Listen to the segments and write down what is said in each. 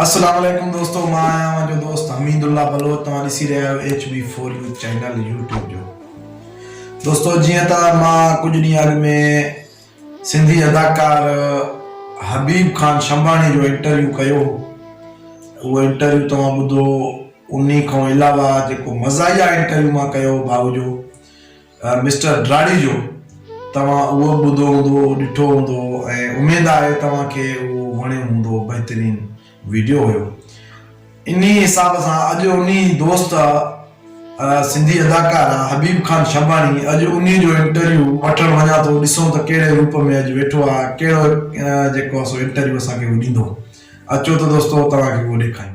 السلام عليڪم دوستو مان آهيان اوهان جو دوست حميد الله بلوچ توهان ڏسي رهيا آهيو H B four U channel YouTube جو دوستو جيئن ته مان ڪجهه ڏينهن اڳ ۾ سنڌي اداڪار حبيب خان شمباڻي جو انٽرويو ڪيو اهو انٽرويو توهان ٻڌو انهي کان علاوه جيڪو مزاحيه انٽرويو مان ڪيو باهه جو مسٽر ڊراڙيجو، توهان اهو به ٻڌو هوندو، ڏٺو هوندو ۽ اميد آهي توهان کي اهو وڻيو هوندو، بهترين ويڊيو هيو. انهي حساب سان اڄ انهي دوست سنڌي اداڪار حبيب خان شهباڻي اڄ انهي جو انٽرويو وٺڻ وڃان ٿو ڏسون ته ڪهڙي روپ ۾ اڄ ويٺو آهي ۽ ڪهڙو جيڪو آهي سو انٽرويو اسان کي اهو ڏيندو. اچو ته دوستو توهان کي اهو ڏيکاريون.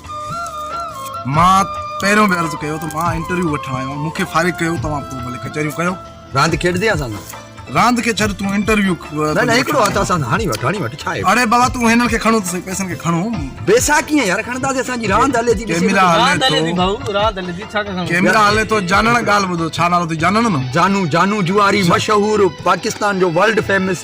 مان پهريون به عرض ڪيو ته مان انٽرويو وٺڻ آيو آهيان مون کي فارغ ڪيو توهان پوء ڀلي ڪچهريون ڪيو راند کيڏجي اسان سان راند کي ڇڏ تون انٽرويو نه نه هڪڙو هٿ اسان هاڻي وٺ هاڻي وٺ ڇا اڙي بابا تون هنن کي کڻو ته سهي پئسن کي کڻو پئسا ڪيئن يار کڻنداسي اسان جي راند هلي ٿي ڪيميرا راند هلي ٿي ڀائو راند هلي ٿي ڇا کڻو ڪيميرا هلي ٿو جانڻ ڳالهه ٻڌو ڇا نالو اٿئي جانڻ نه جانو جانو جواري مشهور پاڪستان جو ورلڊ فيمس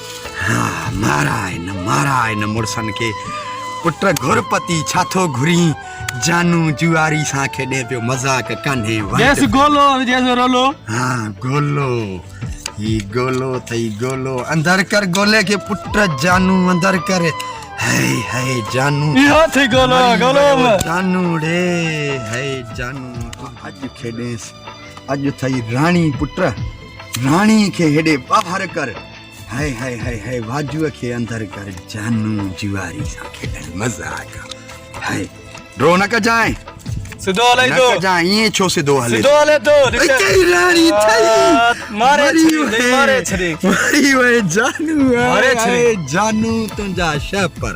ها مارائي نه مارائي نه مڙسن کي پٽ گهر پتي ڇا ٿو گهرين جانو جواري سان کيڏي پيو مذاق ڪانهي جيس گولو جيس رولو ها گولو هي گولو ٿئي گولو اندر ڪر گولي کي پٽ جانو اندر ڪر هي هي جانو اهو ٿئي گولو گولو جانو ڙي هي جانو اڄ کيڏيس اڄ ٿئي راڻي پٽ راڻي کي هيڏي ٻاهر ڪر. هئي هئي هئي هئي واجوء کي اندر ڪر جانو جواري سان کيڏڻ مزا آيا. هئي ڊرو نه ڪجانء. سڌو هلئي ٿو. نه ڪجانء ائين ڇو سڌو هلي ٿو. سڌو هلي ٿو. اتي راڻي ٿئي. ماري ڇڏي ماري ڇڏي. مري وئي جانو هئي هئي جانو تنهنجا شهه پر.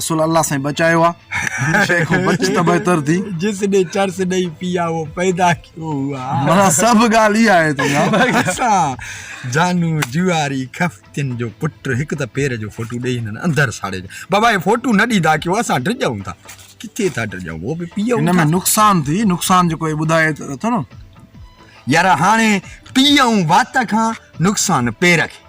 اصل الله سائين بچايو آ هن شئي کان بچ ته بهتر ٿي جس ني چرس نهي پيا وو پيدا ڪيو هوا مانا سڀ ڳالهه اها آهي تنهنجا اسان جانو جواري خفتين جو پٽ هڪ ته پير جو فوٽو ڏئي هنن اندر ساڙي بابا هي فوٽو نه ڏيندا ڪيو اسان ڊڄون ٿا ڪٿي ٿا ڊڄون وو به پيئون هن ۾ نقصان ٿي نقصان جو ڪوئي ٻڌائي ته اٿو نه يار هاڻي پيئون وات کان نقصان پير کي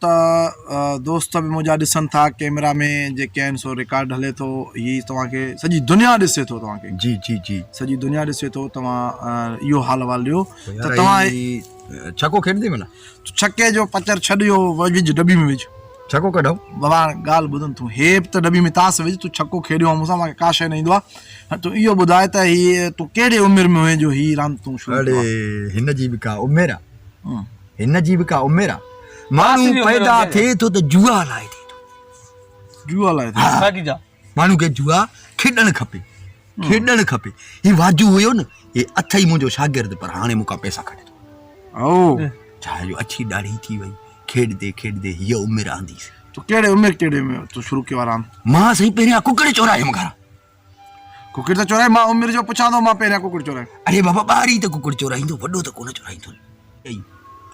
ته دوست به منهنجا ڏسن ٿا ڪيمرا ۾ جيڪي آهن سو رڪارڊ هلي ٿو هي توهان کي سڄي دنيا ڏسي ٿو توهان کي جي جي جي سڄي دنيا ڏسي ٿو توهان اهو حال احوال ڏيو ته توهان ڇڪو کيڏندي منا ڇڪي جو پچر ڇڏ اهو وجھ ڊبي ۾ وجھ ڇڪو ڪڍو بابا ڳالهه ٻڌن تون هي به ته ڊبي ۾ تاس وجھ تون ڇڪو کيڏيو آهو مونسان مونکي ڪا شي نه ايندو آهي تون اهو ٻڌاء ته هي تون ڪهڙي عمر ۾ هئين جو هي راند تون شروع اڙي هن جي به ڪا عمر آهي هن جي به ڪا عمر آ ماڻهو پيدا ٿئي ٿو ته جوا لاء ٿئي ٿو جوا لاء ساڳي جا ماڻهو کي جوا کيڏڻ کپي کيڏڻ کپي هي واجو هيو نه هي اٿئي منهنجو شاگرد پر هاڻي مونکا پئسا کڻي ٿو او ڇا جو اڇي ڏاڙهي ٿي وئي کيڏدي کيڏدي هي عمر آنديس تو ڪهڙي عمر ڪهڙي ۾ تو شروع ڪيو آرام مان سائين پهريان ڪڪڙ چورايم گهران ڪڪڙ ته چورائي مان عمر جو پڇان ٿو مان پهريان ڪڪڙ چورائي. اڙي بابا ٻاري ته ڪڪڙ چورائيندو وڏو ته ڪونه چورائيندو اي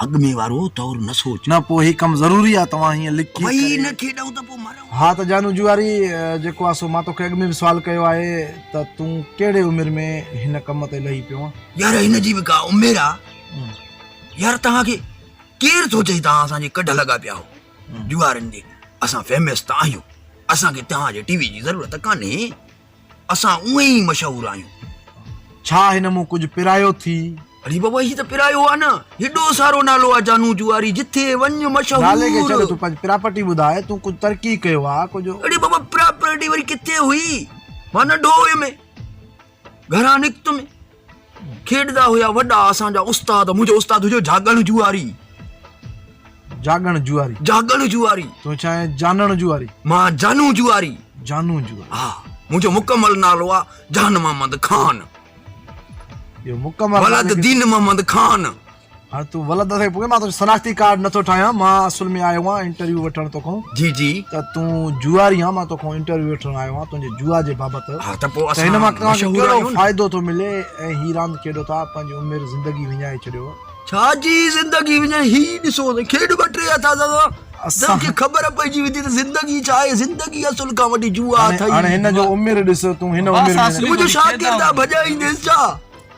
اڳ ۾ وارو طور نه سوچ. نه پوء هي ڪم ضروري آ توهان هيئن لڪي ڪري. ڀئي نه کيڏئون ته پوء مرئون. ها ته جانو جوئاري جيڪو آ سو مان توکي اڳ ۾ به سوال ڪيو آهي ته تون ڪهڙي عمر ۾ هن ڪم تي لهي پيو آن. يار هن جي به ڪا عمر آ يار توهان کي ڪير ٿو چئي توهان اسان جي ڪڍ لڳا پيا هو. ڏيوارين جي اسان فيمس ته آهيون اسان کي توهان جي ٽي وي جي ضرورت ڪانهي اسان اوئين ئي مشهور آهيون. ڇا هن مون ڪجهه پرايو ٿي. اڙي بابا هي ته پرايو آ نه هيڏو سارو نالو آ جانو جواري جٿي وڃ مشهور. نالي کي ڇڏ تون پنهنجي پراپرٽي ٻڌاء تون ڪجهه ترقي ڪيو آ ڪجهه. اڙي بابا پراپرٽي وري ڪٿي هئي مان ننڍو هيم. گهران نڪتم کيڏدا هيا وڏا اسان جا استاد منهنجو استاد هجو جاڳڻ جواري جاڳڻ جواري جاڳڻ جواري تو ڇا آهي جانڻ جواري مان جانو جواري جانو جواري ها منهنجو مڪمل نالو آ جان محمد خان جو مڪمل ولد دين محمد خان هاڻي تون ولد اٿئي پوء مان تنهنجو شناختي ڪارڊ نٿو ٺاهيان مان اصل ۾ آيو آهيان انٽرويو وٺڻ توکان جي جي ته تون جوئاري آهين مان توکان انٽرويو وٺڻ آيو آهيان تنهنجي جوا جي بابت ها ته پوء اسان هن مان توهان کي ڪهڙو فائدو ٿو ملي ۽ هي راند کيڏو ٿا پنهنجي عمر زندگي وڃائي ڇڏيو ڇا جي زندگي وڃائي هي ڏسو ته کيڏ ٻه ٽي هٿا ته اسان کي خبر پئجي ويندي ته زندگي ڇا آهي زندگي اصل کان وڏي جوا اٿئي هاڻي هن جو عمر ڏس تون هن عمر ۾ تنهنجو شاگرد آ ڀڄائينديس ڇا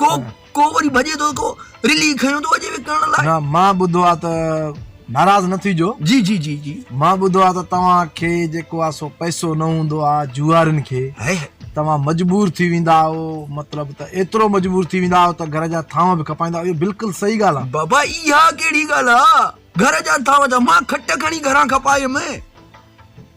ڪو ڪو وري ڀڄي ٿو ڪو رلي کڻيو ٿو اڄي وڪڻڻ لاء نه مان ٻڌو آ ته ناراض نه ٿي جو جي جي جي جي مان ٻڌو آ ته توهان کي جيڪو آ سو پئسو نه هوندو آ جوئارين کي هي هي توهان مجبور ٿي ويندا آهو مطلب ته ايترو مجبور ٿي ويندا آهو ته گهر جا ٿانو به کپائيندا آهيو بلڪل صحيح ڳالهه آ بابا اها ڪهڙي ڳالهه آ گهر جا ٿانو ڇا مان کٽ کڻي گهران کپايم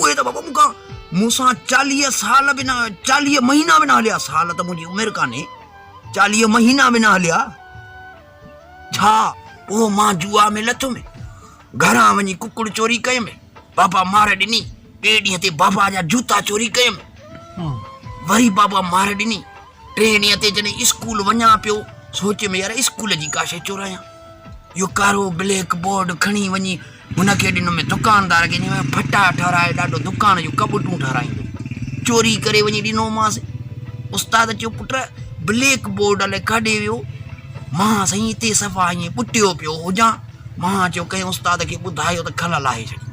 اهي ته بابا مون کان مون سان چاليهه سال به نه چاليهه مهينا به نه هليا سال ته منهنجي عمر ڪانهي چاليهه مهينا به نه هليا ڇا اهو مان جوا ۾ لٿ ۾ گھران وڃي ڪڪڙ چوري ڪيم بابا مار ڏني ٻئي ڏينهن تي بابا جا جوتا چوري ڪيم وري بابا مار ڏني ٽئين ڏينهن تي جڏهن اسڪول وڃان پيو، سوچ ۾ يار اسڪول جي ڪا شيء چورايان. اهو ڪارو بليڪ بورڊ کڻي وڃي هن کي ڏنم ۽ دڪاندار کي چيم ڦٽا ٺاراء ڏاڏو دڪان جون ڪٻٽون ٺارايندو. چوري ڪري وڃي ڏنومانس. استاد چيو پٽ بليڪ بورڊ الائي ڪاڏي ويو؟ مان سائين هتي صفا ائين ٻٽيو پيو هجان. مان چيو ڪنهن استاد کي ٻڌايو ته کل لاهي ڇڏيندو.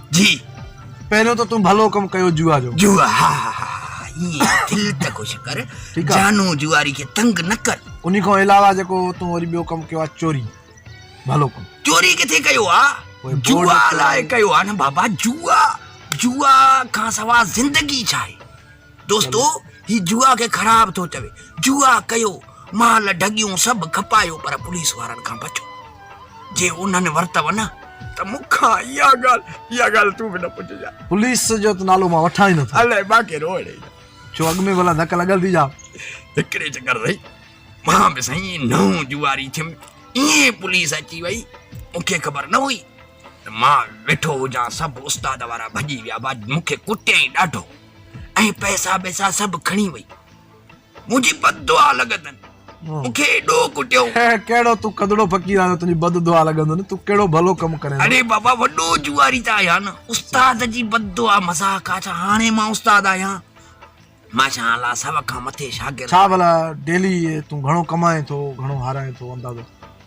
جي پهريون ته تون ڀلو ڪم ڪيو جوا جو جوا ها ها ها ائين دل ته خوش ڪر ٺيڪ آ جانو جواري کي تنگ نه ڪر انهي کان علاوه جيڪو تون وري ٻيو ڪم ڪيو آ چوري ڀلو ڪم چوري ڪٿي ڪيو آ جوا لاء ڪيو آ نه بابا جوا جوا کان سوا زندگي ڇا آهي دوستو هي جوا کي خراب ٿو چوي جوا ڪيو مال ڍڳيون سڀ کپايو پر پوليس وارن کان بچو جي انهن ورتو نه ته مون کان اها ڳالهه اها ڳالهه تون به نه پڇجان پوليس جو ته نالو مان وٺان ئي نه ٿو الائي مان ڪير هو اڙي ڇو اڳ ۾ ڀلا ڌڪ لڳل ٿي جا هڪڙي چڪر سائين مان به سائين نئون جواري ٿيم ائين پوليس اچي وئي مونکي خبر نه هئي ته مان ويٺو هجان سڀ استاد وارا ڀڄي ويا مونکي ڪٽيائين ڏاڍو ۽ پئسا ٻئسا سڀ کڻي وئي. منهنجي بد دعا لڳندن مون کي ايڏو ڪٽيو. ڪهڙو تون ڪڌڙو فقير آهين جو تنهنجي بد دعا لڳندن، تون ڪهڙو ڀلو ڪم ڪرين ٿو. اڙي بابا وڏو جوئاري ته آهيان نه، استاد جي بد دعا مذاق آ ڇا، هاڻي مان استاد آهيان. ماشا الله سو کان مٿي شاگرد. ڇا ڀلا ڊيلي تون گهڻو ڪمائين ٿو، گهڻو هارائين ٿو، اندازو.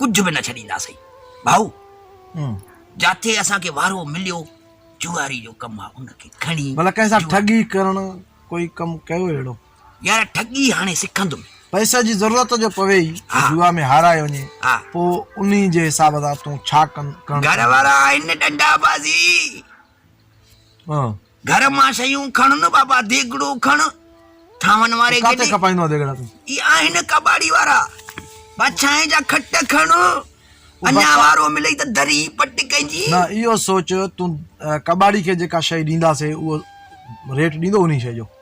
ڪجهه به نه ڇڏينداسين ڀائو جاٿي اسان کي وارو مليو جواري جو ڪم آ ان کي کڻي بلا ڪنهن سان ٺڳي ڪرڻ ڪوئي ڪم ڪيو اهڙو يار ٺڳي هاڻي سکندم پئسي جي ضرورت جو پوي ئي جوا ۾ هارائي وڃي پو انهي جي حساب سان تون ڇا ڪن گهر وارا آهن ڏنڊا بازي ها گهر مان شيون کڻ نه بابا ديڳڙو کڻ ٿانون واري کي ڏي. هي آهن ڪٻاڙي وارا پڇائين جا کٽ کڻ اڃا وارو ملئي ته دري پٽ ڪئجي. نه اهو سوچ تون ڪٻاڙي کي جيڪا شيء ڏينداسين اهو ريٽ ڏيندو انهي شيء جو.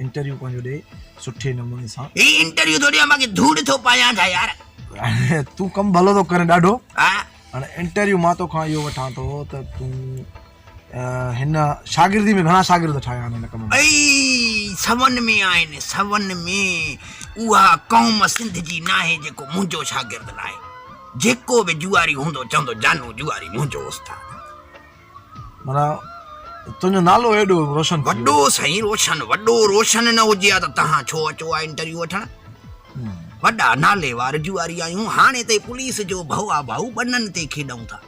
انٽرويو پنهنجو ڏي سٺي نموني سان. هي انٽرويو ٿو ڏيان باقي ڌوڙ ٿو پايان ڇا يار. تون ڪم ڀلو ٿو ڪرين ڏاڍو هاڻي انٽرويو مان توکان اهو وٺان ٿو ته تون هن شاگردي ۾ گهڻا شاگرد ٺاهيا آهن هن ڪم ۾ اي سون ۾ آهن سون ۾ اها قوم سنڌ جي ناهي جيڪو منهنجو شاگرد لاهي جيڪو به جواري هوندو چوندو جانو جواري منهنجو استاد معنيٰ تنهنجو نالو ايڏو روشن ٿي ويو. وڏو سائين روشن وڏو روشن نه هجي ها ته تهان ڇو اچو ها انٽرويو وٺڻ وڏا ناليوار جوئاري آهيون هاڻي تي پوليس جو ڀئا ڀائو ٻنن تي کيڏئون ٿا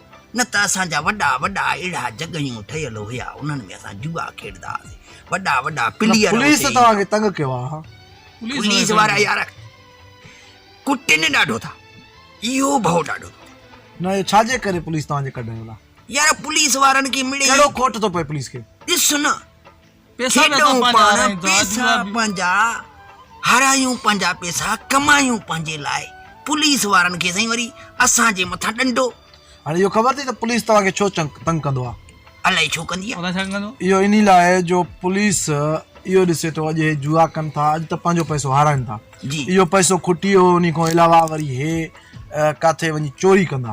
نه ته اسان جا وڏا وڏا اهڙا جڳهيون ٺهيل هيا انهن ۾ اسان جوئا کيڏدا هئاسين وڏا وڏا نه پليئر پوليس اتي ته ايندا توهان کي تنگ ڪيو آهي ها پوليس وارا يار ڪٽين ڏاڍو ٿا اهو ڀئو ڏاڍو ٿو ٿئي. نه اهو ڇا جي ڪري پوليس توهان جي ڪڍڻ لاء يار پوليس وارن کي مڙئي ڪهڙو کوٽ ٿو پئي پوليس کي. ڏس نه کيڏون پاڻ پئسا پنهنجا هارايون پنهنجا پئسا ڪمايون پنهنجي لاء پوليس وارن کي سائين وري اسان جي مٿان ڏنڊو. هاڻي اهو خبر اٿئي ته پوليس توهان کي ڇو تنگ ڪندو آ. الائي ڇو ڪندي آ. اهو انهي لاء جو پوليس اهو ڏسي ٿو اڄ هي جوا ڪن ٿا اڄ ته پنهنجو پئسو هارائن ٿا اهو پئسو کٽي هو انهي کان علاوه وري هي ڪاٿي وڃي چوري ڪندا.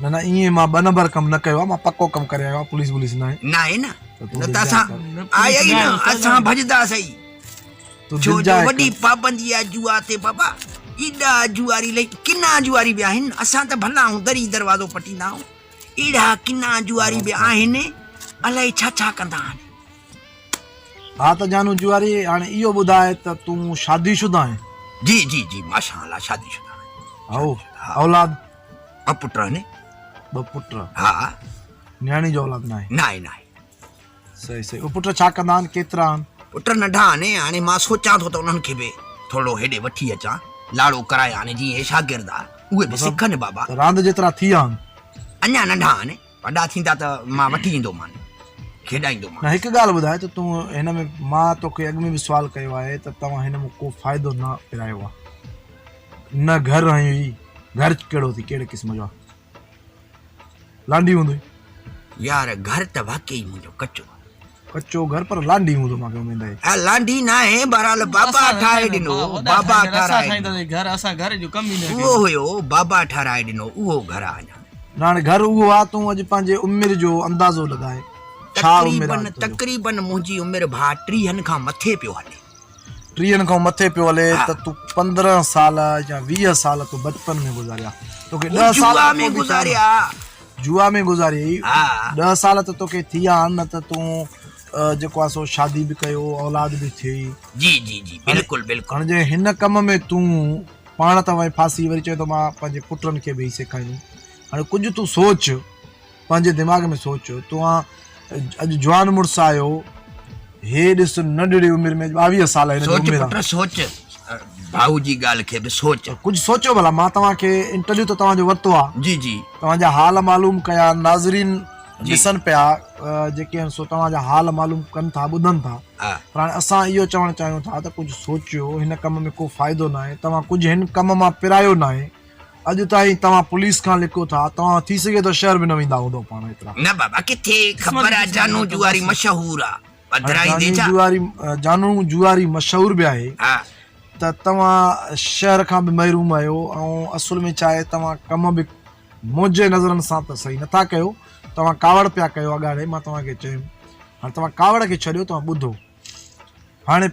نه نه ائين مان ٻه نمبر ڪم نه ڪيو آ مان پڪو ڪم ڪري آيو آ پوليس ٻوليس ناهي. ناهي نه نه ته اسان آيا ئي نه اسان ڀڄدا سهي ڇو جو وڏي پابندي آ جوا تي بابا ايڏا جواري لئي ڪنا جواري به آهن اسان ته ڀلا آهون دري دروازو پٽيندا آهون ايڙا ڪنا جواري به آهن الائي ڇا ڇا ڪندا آهن. ها ته جانو جواري هاڻي اهو ٻڌاء ته تون شادي شده آهين. جي جي جي ماشاء الله شادي شده آهيان. هائو اولاد. ٻه پٽ آهن ٻه پٽ ها نياڻي جو اولاد ناهي ناهي ناهي صحيح صحيح او پٽ ڇا ڪندا آهن ڪيترا آهن پٽ ننڍا آهن هاڻي مان سوچان ٿو ته انهن کي به ٿورو هيڏي وٺي اچان لاڙو ڪرايان جي اهي شاگرد آهن اهي به سکن بابا راند جيترا ٿي آهن اڃا ننڍا آهن وڏا ٿيندا ته مان وٺي ايندومان، کيڏائيندومان. هڪ ڳالهه ٻڌاء ته تون هن ۾ مان توکي اڳ ۾ به سوال ڪيو آهي ته توهان هن مان ڪو فائدو نه پرايو آهي. نه گهر هنيو هئي. گهر ڪهڙو اٿئي، ڪهڙي قسم جو آهي. لانڍي هوندوئي. يار گهر ته واقعي منهنجو ڪچو آهي. ڪچو گهر پر لانڍي هوندو مانکي اميد آهي. ها لانڍي ناهي بهرحال بابا ٺاهي ڏنو بابا ٺهرائي ڏنو اهو هيو بابا ٺهرائي ڏنو اهو گهر آ اڃا. ناڻي گهر اهو آ تون اڄ پنهنجي عمر جو اندازو لڳائي ڇا عمر آ تقريبن تقريبن منهنجي عمر ڀا ٽيهن کان مٿي پيو هلي. ٽيهن کان مٿي پيو هلي ته تون پندرهن سال يا ويهه سال تون بچپن ۾ گذاريا توکي ڏهه سال جوا ۾ گذاريا جوا ۾ گذاريئي ڏهه سال ته توکي ٿي ويا آهن نه ته تون جيڪو آهي سو شادي به ڪيو اولاد به ٿي جي جي جي بلڪل بلڪل هاڻي جي هن ڪم ۾ تون پاڻ ته وڃي ڦاسي وري چوين ٿو مان پنهنجي پٽن کي به سيکاريندم هاڻي ڪجهه تون سوچ پنهنجي دماغ ۾ سوچ توهان اڄ جوان مڙس آهيو هي ڏس ننڍڙي عمر ۾ ٻاويهه سال هن جي عمر آهي سوچ ڀائو جي ڳالهه کي به سوچ ڪجهه سوچو ڀلا مان توهان کي انٽرويو ته توهان جو ورتو آهي جي جي توهان جا حال معلوم ڪيا ناظرين ڏسن پيا جيڪي آهن سو توهان جا حال معلوم ڪن ٿا ٻڌن ٿا پر هاڻي اسان اهو چوڻ چاهيون ٿا ته ڪجهه سوچيو هن ڪم ۾ ڪو فائدو ناهي توهان ڪجهه هن ڪم مان پرايو ناهي اڄ تائين توهان پوليس کان لڪو ٿا توهان ٿي سگهي ٿو شهر به نه ويندا هوندو پاڻ ايترا. نه بابا ڪٿي خبر آ جانو جواري مشهور آ پڌرائيندي ڇا. جانو جواري مشهور به آهي ته توهان شهر کان به محروم آهيو ۽ اصل ۾ ڇا آهي توهان ڪم به منهنجي نظرن سان ته صحيح نه ٿا ڪيو توهان ڪاوڙ پيا ڪيو اڳاڙي مان توهان کي چيم هاڻي توهان ڪاوڙ کي ڇڏيو توهان ٻڌو. هاڻي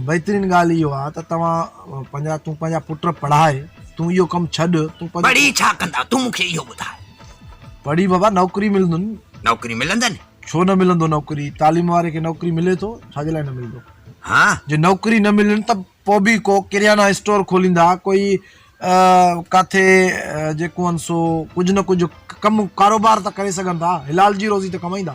بهترين ڳالهه اهو آ ته توهان پنهنجا تون پنهنجا پٽ پڙهاء تون اهو ڪم ڇڏ تون پڙهي ڇا ڪندا تون مونکي اهو ٻڌاء پڙهي بابا نوڪري ملندن نوڪري ملندن ڇو نه ملندو نوڪري تعليم واري کي نوڪري ملي ٿو ڇا جي لاء نه ملندو ها جي نوڪري نه ملن ته پو به ڪو ڪريانا اسٽور کوليندا ڪوئي ڪاٿي جيڪو ان سو ڪجهه نه ڪجهه ڪم ڪاروبار ته ڪري سگهن ٿا حلال جي روزي ته ڪمائيندا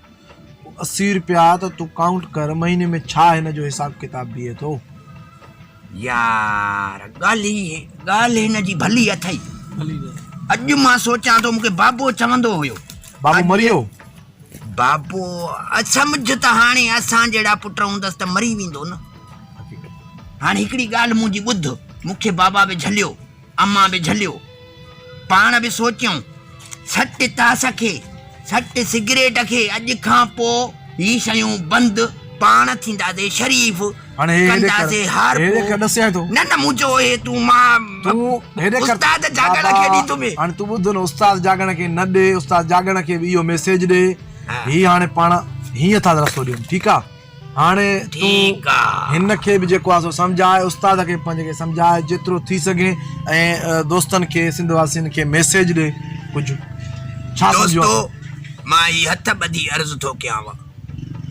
اسي رپيا ته تون ڪائونٽ ڪر مهيني ۾ ڇا هن جو حساب ڪتاب بيهي ٿو. يار ڳالهه هي ڳالهه هن جي ڀلي اٿئي. اڄ مان سوچان ٿو مون کي بابو چوندو هيو. بابو مري ويو؟ بابو سمجهه ته هاڻي اسان جهڙا پٽ هوندس ته مري ويندو نه. هاڻي هڪڙي ڳالهه منهنجي ٻڌ مون کي بابا به جهليو. امان به جهليو، پاڻ به سوچيائون، سٽ تاس کي، سٽ سگريٽ کي، اڄ کان پوء هي شيون بند، پاڻ ٿينداسي شريف، ڪنداسي هارپو. نه نه، مون چيو هي تون مان استاد جاڳڻ کي ڏي ٿو مي. هاڻي تون ٻڌ نه، استاد جاڳڻ کي نه ڏي، استاد جاڳڻ کي به اهو ميسيج ڏي، هي هاڻي پاڻ هيئن ٿا رستو ڏيون، ٺيڪ آ. هاڻي تون هن کي به جيڪو آهي سو سمجهاء، استاد کي پنهنجي کي سمجهاء، جيترو ٿي سگهي ۽ دوستن کي سنڌ واسين کي ميسيج ڏي ڪجهه ڇا سمجهيو اٿئي؟ دوستو! مان هي هٿ ٻڌي عرض ٿو ڪيانو،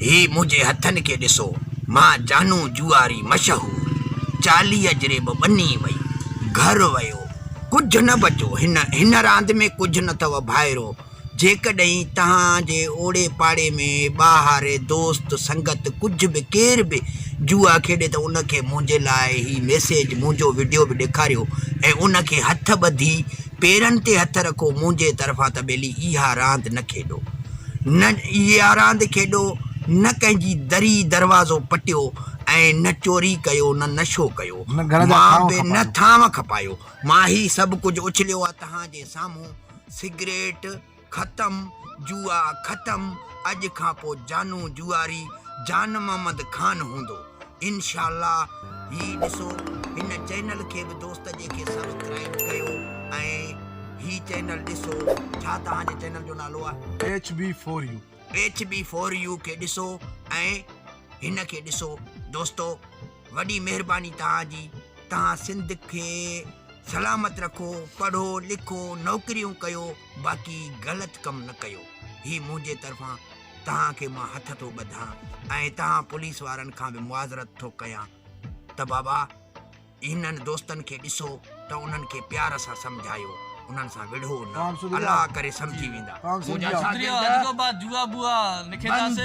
هي منهنجي هٿن کي ڏسو، مان جانو جوئاري مشهور، چاليهه جري به ٻني وئي، گهر ويو، ڪجهه نه بچو، هن هن راند ۾ ڪجهه نه اٿئو ڀائرو! جيڪڏهن توهان جي اوڙي پاڙي ۾ ٻاهري دوست سنگت ڪجهه به ڪير به جوا کيڏي ته ان کي منهنجي لاء هي ميسيج منهنجو وڊيو به ڏيکاريو ۽ ان کي هٿ ٻڌي پيرن تي هٿ رکو منهنجي طرفان ته ٻيلي اها راند نه کيڏو نه اها راند کيڏو نه ڪنهن جي دري دروازو پٽيو ۽ نه چوري ڪيو نه نشو ڪيو مان به نه ٿانو کپايو مان هي سڀ ڪجهه اڇليو آهي توهان جي سامهون. سگريٽ ختم، جوا ختم، اڄ کان پو جانو جوئاري جان محمد خان هوندو انشاء الله هي ڏسو هن چينل کي به دوست جي کي سبسڪرائيب ڪيو ۽ هي چينل ڏسو ڇا توهان جي چينل جو نالو آ H B four U. H B four U کي ڏسو ۽ هن کي ڏسو دوستو. وڏي مهرباني توهان جي توهان سنڌ کي سلامت رکو پڙهو لکو نوڪريون ڪيو باقي غلط ڪم نه ڪيو هي منهنجي طرفان توهان کي مان هٿ ٿو ٻڌان ۽ توهان پوليس وارن کان به معذرت ٿو ڪيان ته بابا هنن دوستن کي ڏسو ته انهن کي پيار سان سمجهايو انهن سان وڙهو نه الله ڪري سمجهي ويندا منهنجا شاگرد بند